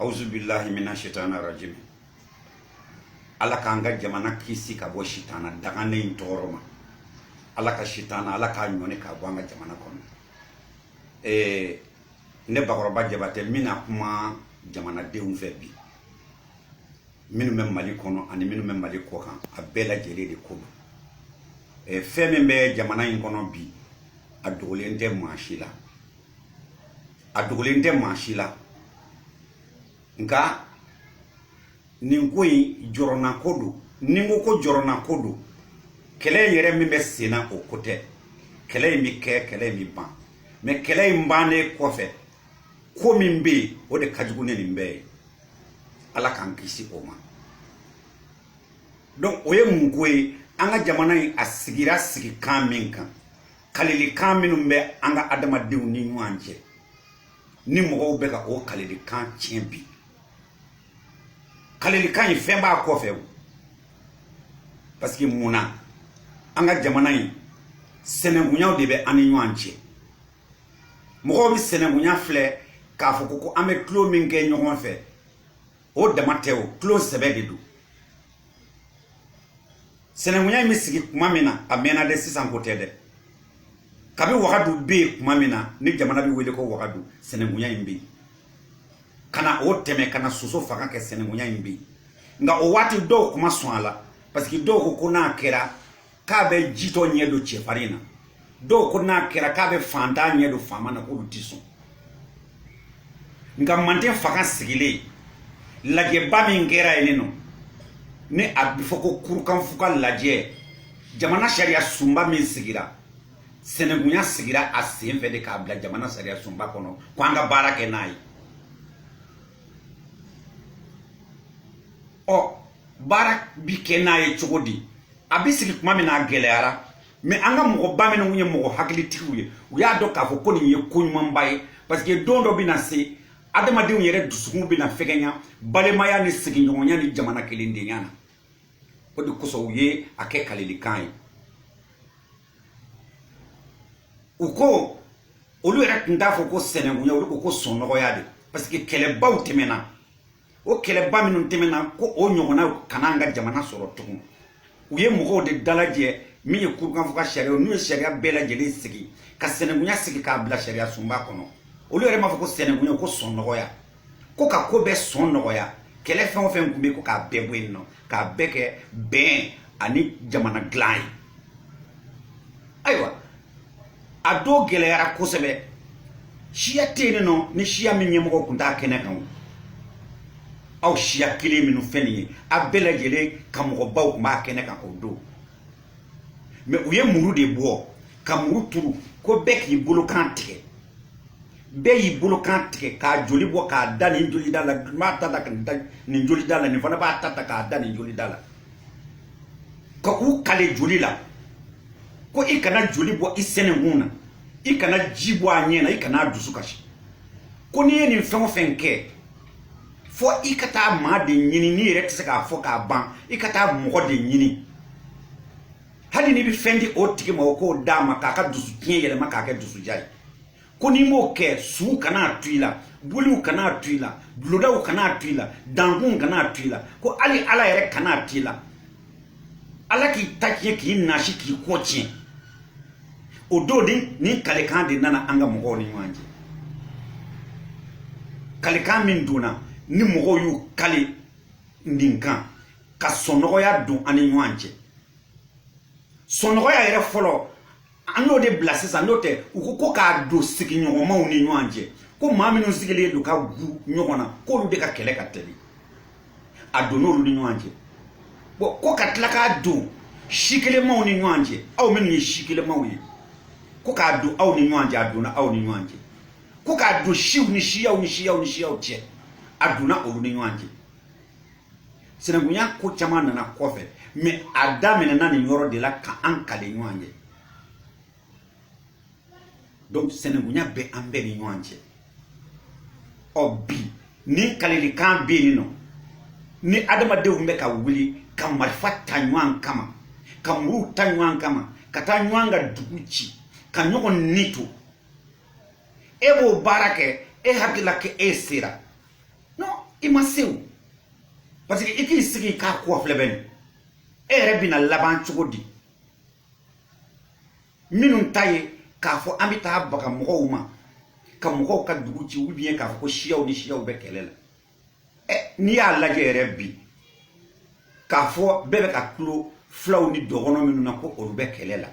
awuzu bilahi mina sitana rajimi ala k'an ka jamana kisi ka bɔ sitana dangalen in tɔɔrɔ ma ala ka sitana ala k'a ɲɔni k'a bɔ an ka jamana kɔnɔ ee ne bakɔrɔba jabatɛ n bɛna kuma jamanadenw fɛ bi minnu bɛ mali kɔnɔ ani minnu bɛ mali kɔkan a bɛɛ lajɛlen de ko don fɛn min bɛ jamana in kɔnɔ bi a dogolen tɛ maa si la a dogolen tɛ maa si la nka nin ko in jɔrɔnako don ni n ko ko jɔrɔnako don kɛlɛ in yɛrɛ min bɛ sen na o ko tɛ kɛlɛ in bɛ kɛ kɛlɛ in bɛ ban mais kɛlɛ in bannen kɔfɛ ko min bɛ yen o de ka jugu ni nin bɛɛ ye ala k'an kisi o ma donc o ye mun ko ye an ka jamana in a sigira sigikan min kan kalilikan minnu bɛ an ka adamadenw ni ɲɔgɔn cɛ ni mɔgɔw bɛ ka o kalilikan tiɲɛ bi kalilikan in fɛn b'a kɔfɛ parce que mun na an ka jamana in sɛnɛkunyaw de bɛ an ni ɲɔgɔn cɛ mɔgɔw bɛ sɛnɛkunya filɛ k'a fɔ ko ko an bɛ tulon min kɛ ɲɔgɔn fɛ o dama tɛ o tulon sɛbɛ de don Sinankunya in bɛ sigi tuma min na a mɛnna dɛ sisan ko tɛ dɛ kabi wagadu bɛ yen tuma min na ni jamana bɛ wele ko wagadu sinankunya in bɛ yen ka na o tɛmɛ ka na soso fanga kɛ sinankunya in bɛ yen nka o waati dɔw tun ma sɔn a la parce que dɔw ko ko n'a kɛra k'a bɛ jitɔ ɲɛ don cɛfarin na dɔw ko n'a kɛra k'a bɛ fantan ɲɛ don faama na k'olu tɛ sɔn nka manden fanga sigilen lajɛba min kɛra yen nɔ ni a bɛ fɔ ko kurukanfuga lajɛ jamana sariya sunba min sigira sɛnɛkunya sigira a sen fɛ de k'a bila jamana sariya sunba kɔnɔ ko an ka baara kɛ n'a ye ɔ baara bi kɛ n'a ye cogo di a bɛ sigi tuma min na a gɛlɛyara mais an ka mɔgɔba minnu ye mɔgɔ hakilitigiw ye u y'a dɔn k'a fɔ ko nin ye ko ɲumanba ye parce que don dɔ bɛna se adamadenw yɛrɛ dusukun bɛna fɛgɛnya balimaya ni sigiɲɔgɔnya ni jamana kelendenya na o de kosɔn u ye a kɛ kalilikan ye u ko olu yɛrɛ tun t'a fɔ ko sɛnɛkunya olu ko ko sɔnnɔgɔya de parce que kɛlɛbaw tɛmɛna o kɛlɛba minnu tɛmɛna ko o ɲɔgɔnna kana an ka jamana sɔrɔ tugun u ye mɔgɔw de dalajɛ min ye kurukanfuga sariya n'u ye sariya bɛɛ lajɛlen sigi ka sɛnɛkunya sigi k'a bila sariya sunba kɔnɔ olu yɛrɛ m'a fɔ ko sɛnɛkunya ko sɔnnɔgɔya ko ka ko bɛɛ sɔn nɔgɔya kɛlɛ fɛn o fɛn tun bɛ ko k'a bɛɛ bɔ yen nɔ k'a bɛɛ kɛ bɛn ani jamana dilan ye ayiwa a do gɛlɛyara kosɛbɛ siya tɛ yen nɔ ni siya min ɲɛmɔgɔ tun t'a kɛnɛ kan aw siya kelen minnu fɛn nin ye a bɛɛ lajɛlen ka mɔgɔbaw tun b'a kɛnɛ kan o don mais u ye muru de bɔ ka muru turu ko bɛɛ k'i bolokan tigɛ bɛɛ y'i bolokan tigɛ k'a joli bɔ k'a da nin joli da la nin b'a ta ta k'a da nin joli da la nin fana b'a ta ta k'a da nin joli da la ka k'u kale joli la ko i kana joli bɔ i sɛnɛkun na i kana ji bɔ a ɲɛ na i kana a dusu kasi ko n'i ye nin fɛn o fɛn kɛ fo i ka taa maa de ɲini n'i yɛrɛ tɛ se k'a fɔ k'a ban i ka taa mɔgɔ de ɲini hali n'i bɛ fɛn di o tigi ma o k'o d'a ma k'a ka dusu tiɲɛ yɛlɛma k'a kɛ dusudiya ye ko n'i m'o kɛ suw kana to i la boliw kana to i la bulodaw kana to i la dankunw kana to i la ko hali ala yɛrɛ kana to i la ala k'i ta tiɲɛ k'i nasi k'i kɔ tiɲɛ o don nin kalikan de nana an ka mɔgɔw ni ɲɔgɔn cɛ kalikan min donna ni mɔgɔw y'u kale nin kan ka sɔnnɔgɔya don an ni ɲɔgɔn cɛ sɔnnɔgɔya yɛrɛ fɔlɔ an y'o de bila sisan n'o tɛ u ko ko k'a don sigiɲɔgɔnmaw ni ɲɔgɔn cɛ ko maa minnu sigilen don ka gu ɲɔgɔn na k'olu de ka kɛlɛ ka teli a donn'olu ni ɲɔgɔn cɛ bon ko ka tila k'a don si kelenmaw ni ɲɔgɔn cɛ aw minnu ye si kelenmaw ye ko k'a don aw ni ɲɔgɔn cɛ a donna aw ni ɲɔgɔn cɛ ko k'a don siw ni siyaw ni siyaw ni siyaw cɛ a donna olu ni ɲɔgɔn cɛ sinankunya ko caman nana kɔfɛ mais a daminɛna nin yɔrɔ de la ka an kale ɲɔgɔn ye donc sinankunya bɛ an bɛɛ ni ɲɔgɔn cɛ ɔ bi ni kalelikan bɛ yen nɔ ni adamadenw bɛ ka wuli ka marifa ta ɲɔgɔn kama ka muruw ta ɲɔgɔn kama ka taa ɲɔgɔn ka dugu ci ka ɲɔgɔn ni to e b'o baara kɛ e hakili la k'e sera non i ma se o parce que i k'i sigi k'a ko filɛ bani e yɛrɛ bɛna laban cogo di minnu ta ye k'a fɔ an bɛ taa baga mɔgɔw ma ka mɔgɔw ka dugu ci ou bien k'a fɔ ko siyaw ni siyaw bɛ kɛlɛ la ɛ n'i y'a lajɛ yɛrɛ bi k'a fɔ bɛɛ bɛ ka kulo fulaw ni dɔgɔnɔ minnu na ko olu bɛ kɛlɛ la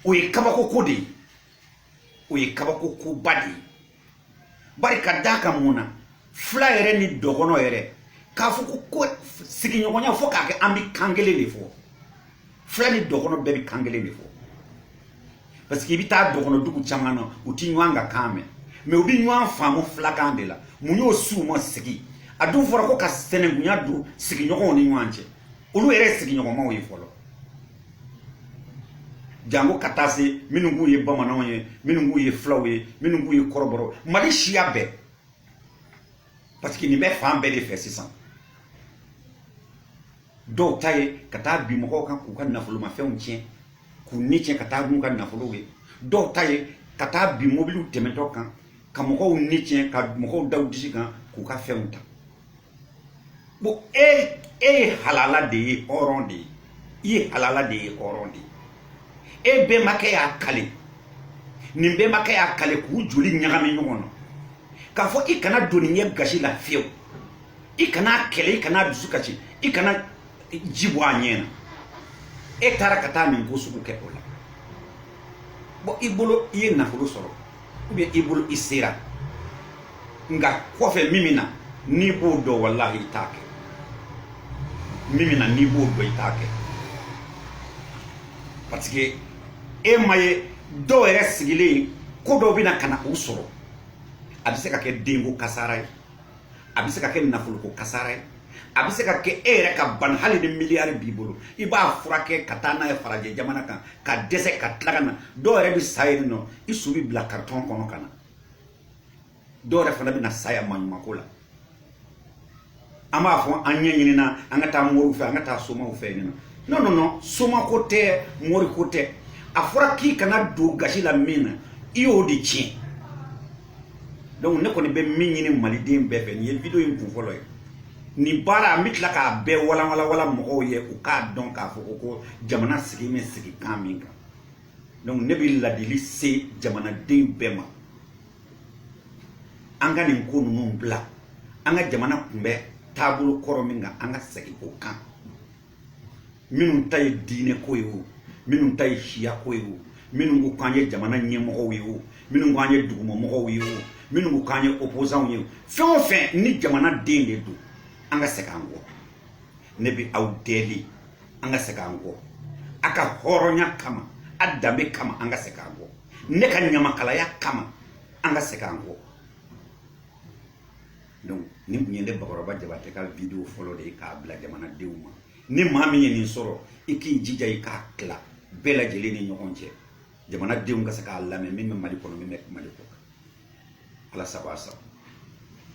o ye kabako ko de ye o ye kabako koba de ye bari ka d'a kan mun na fila yɛrɛ ni dɔgɔnɔ yɛrɛ k'a fɔ ko ko sigiɲɔgɔnya fo k'a kɛ an bɛ kan kelen de fɔ fila ni dɔgɔnɔ bɛɛ bɛ kan kelen de fɔ parce que i bɛ taa dɔgɔnɔ dugu caman na u tɛ ɲɔgɔn ka kan mɛn mais u bɛ ɲɔgɔn faamu filakan de la mun y'o s'u ma sigi a dun fɔra ko ka sɛnɛkunya don sigiɲɔgɔnw ni ɲɔgɔn cɛ olu yɛrɛ ye sigiɲɔgɔnmaw ye fɔlɔ janko ka taa se minnu k'u ye bamananw ye minnu k'u ye fulaw ye minnu k'u ye kɔrɔbɔrɔ mali siya bɛɛ parce que nin bɛ fan bɛɛ de fɛ sisan dɔw ta ye ka taa bin mɔgɔw kan k'u ka nafolomafɛnw tiɲɛ k'u ni tiɲɛ ka taa n'u ka nafolow ye dɔw ta ye ka taa bin mobiliw tɛmɛtɔ kan ka mɔgɔw ni tiɲɛ ka mɔgɔw da u disi kan k'u ka fɛnw ta bon e e ye halala den ye hɔrɔn de ye i ye halala den ye hɔrɔn de ye e bɛnbakɛ y'a kale nin bɛnbakɛ y'a kale k'u joli ɲagami ɲɔgɔn na k'a fɔ i kana don nin ɲɛ gasi la fiyewu i kana kɛlɛ i kana dusu kasi i kana ji bɔ a ɲɛ na e taara ka taa nin ko sugu kɛ o la bon i bolo i ye nafolo sɔrɔ ou bien i bolo i sera nka kɔfɛ min bɛ na n'i b'o dɔn walahi i t'a kɛ min bɛ na n'i b'o dɔn i t'a kɛ parce que e m'a ye dɔw yɛrɛ sigilen ko dɔw bɛ na ka na u sɔrɔ a bɛ se ka kɛ denko kasara ye a bɛ se ka kɛ nafoloko kasara ye a bɛ se ka kɛ e yɛrɛ ka bana hali ni miliyari b'i bolo i b'a furakɛ ka taa n'a ye farajɛ jamana kan ka dɛsɛ ka tila ka na dɔw yɛrɛ bɛ sa yen nɔ i su bɛ bila karitɔn kɔnɔ ka na dɔw yɛrɛ fana bɛ na sa yan maɲumako la an b'a fɔ an ɲɛ ɲinina an ka taa moriw fɛ an ka taa somaw fɛ yen nɔ non non non somako tɛ moriko tɛ a fɔra k'i kana don gasi la min na i y'o de tiɲɛ donc ne kɔni bɛ min ɲini maliden bɛɛ fɛ nin ye video in kun fɔlɔ ye nin baara n bɛ tila k'a bɛɛ walanwalanwala mɔgɔw ye u k'a dɔn k'a fɔ ko ko jamana sigi bɛ sigikan min kan donc ne bɛ ladili se jamanaden bɛɛ ma an ka nin ko ninnu bila an ka jamana kun bɛ taabolo kɔrɔ min kan an ka segin o kan minnu ta ye diinɛ ko ye o minnu ta ye siya ko ye o minnu ko k'an ye jamana ɲɛmɔgɔw ye o minnu ko an ye duguma mɔgɔw ye o minnu ko k'an ye opposants ye o fɛn o fɛn ni jamana den de don an ka segin an kɔ ne bɛ aw deli an ka segin an kɔ a ka hɔrɔnya kama a danbe kama an ka segin an kɔ ne ka ɲamakalaya kama an ka segin an kɔ donc nin tun ye ne bakɔrɔba jabatɛ ka video fɔlɔ de ye k'a bila jamanadenw ma ni maa min ye nin sɔrɔ i k'i jija i k'a tila bɛɛ lajɛlen ni ɲɔgɔn cɛ jamanadenw ka se k'a lamɛn min bɛ mali kɔnɔ min bɛ mali kɔkan ala sago a sago